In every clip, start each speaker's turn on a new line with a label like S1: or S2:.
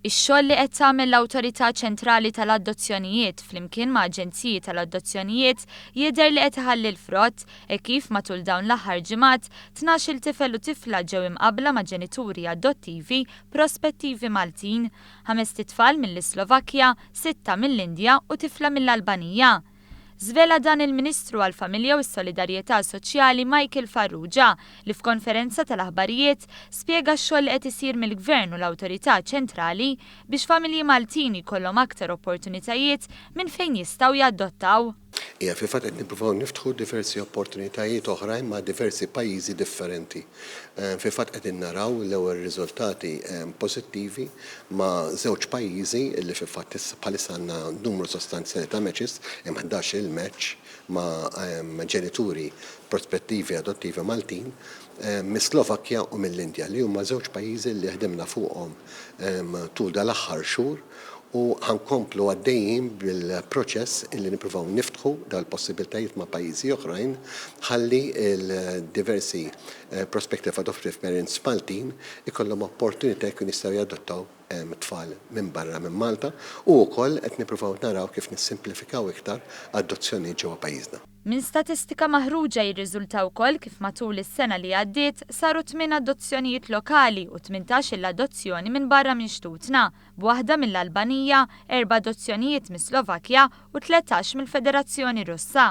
S1: Ix-xogħol li qed tagħmel l-Awtorità Ċentrali tal-Adozzjonijiet flimkien ma' aġenziji tal-adozzjonijiet jidher li qed iħalli l-frott hekk kif matul dawn l-aħħar ġimgħat tnax-il tifel u tifla ġew imqabbla ma' ġenituri adottivi prospettivi Maltin, ħamest itfal mill-Islovakkja, sitta mill-Indja u tifla mill-Albanija. Żvela dan il-Ministru għall-Familja u s-Solidarjetà Soċjali Michael Farrugia li f'konferenza tal-aħbarijiet spjega x-xogħol li qed isir mill-Gvern u l-Awtorità Ċentrali biex familji Maltin jkollhom aktar opportunitajiet minn fejn jistgħu jadottaw Iva, fil-fatt qed
S2: nippruvaw niftħu diversi opportunitajiet oħrajn ma' diversi pajjiżi differenti. Fil-fatt qegħdin naraw l-ewwel riżultati pożittivi ma' żewġ pajjiżi li fil-fatt bħalissa għandna numru sostanzjali ta' matches, hemm ħdax-il match ma' ġenituri prospettivi adottivi Maltin, mis-Slovakkja u mill-Indja, li huma żewġ pajjiżi li ħdimna fuqhom tul dal-aħħar xhur. u ħa nkomplu għaddejjin bil-proċess illi nippruvaw niftħu dawn il-possibbiltajiet ma' pajjiżi oħrajn ħalli l-diversi Prospective Adoptive Parents Maltin ikollhom opportunità jkunu jistgħu jadottaw tfal minn barra minn Malta u wkoll qed nippruvaw naraw kif nissimplifikaw iktar adozzjonijiet ġewwa pajjiżna. Minn statistika
S1: maħruġa jirriżulta wkoll kif matul is-sena li għaddiet saru tmien adozzjonijiet lokali u tmintax-il adozzjoni minn barra minn xtutna, b'waħda mill-Albanija, erba' adozzjonijiet mis-Slovakkja u tletax mill-Federazzjoni Russa.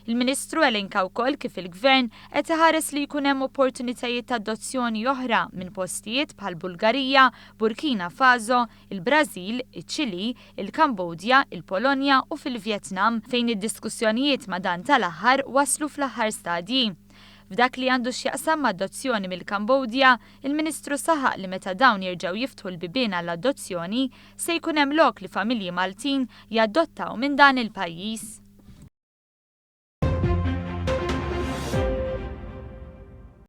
S1: Il-Ministru elenka wkoll kif il-Gvern qed iħares li jkun hemm opportunitajiet ta' adozzjoni oħra minn postijiet bħall-Bulgarija, Burkina Faso, il-Brażil, iċ-Ċilì, il-Kambodja, il-Polonja u fil-Vjetnam, fejn id-diskussjonijiet ma' dan tal-aħħar waslu fl-aħħar stadji. F'dak li għandu x'jaqsam m'adozzjoni mill-Kambodja, il-Ministru saħaq li meta dawn jerġgħu jiftħu l-bibien għall-adozzjoni, se jkun hemm lok li familji Maltin jadottaw minn dan il-pajjiż.